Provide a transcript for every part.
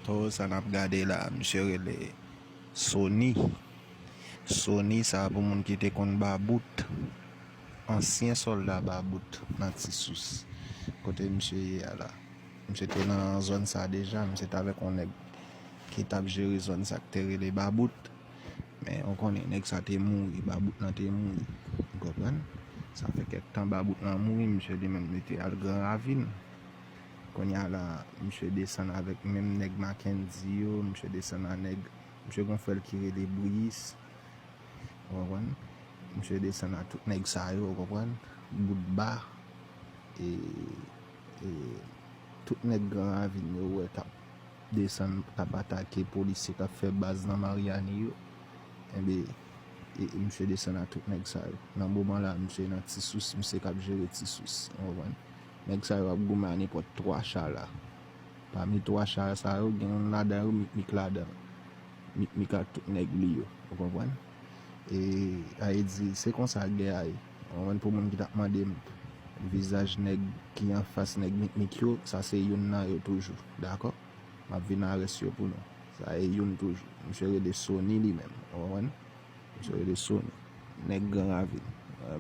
Towo sa nap gade la misye rele Sony Sony sa pou moun ki te konn ba bout ansyen solda ba bout nan ti sous kote misye ye a la misye te nan zòn sa deja misye t avèk yon nèg ki tap jere zòn sa ki te rele ba bout men ou konnen nèg sa te mouri ba bout nan te mouri ou konprann sa fè kèk tan ba bout nan mouri misye li menm li te al gran ravin Konnya la misye desann avèk menm nèg Mackendy yo, misye desann a nèg, misye gon frè l ki rele Briis, ou konprann, misye desann a tout nèg sa yo, ou konprann, Boutba, e, e, tout nèg Gran Ravin yo ou wè k ap desann, k ap atake polisye k ap fè baz nan Maryani yo, enben, e, misye desann a tout nèg sa yo. Nan moman la misye nan Ti Sous, misye k ap jere Ti Sous, ou konprann. Nèg sa yo ap goumen a nenpòt 3 cha la. Pami 3 cha sa yo, gen youn ladan yo Mikmik ladan l. Mikmik ak tout nèg li yo. Ou konprann? E Aye di, se konsa gè a ye. Ou konprann? Pou moun ki t ap mande m vizaj nèg ki anfas nèg Mikmik yo, sa se youn nan yo toujou. Dakò? M ap vin nan rès yo pou nou. Sa e youn toujou. Misye rele Sony li menm. Ou konprann? Misye rele sou nèg gran ravin.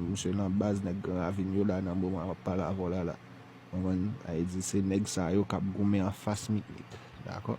Misye nan baz nèg gran ravin yo la nan moman map pale avèw la la. Konprann? Sa vle di se nèg sa yo kap goumen anfas Mikmik. Dakò?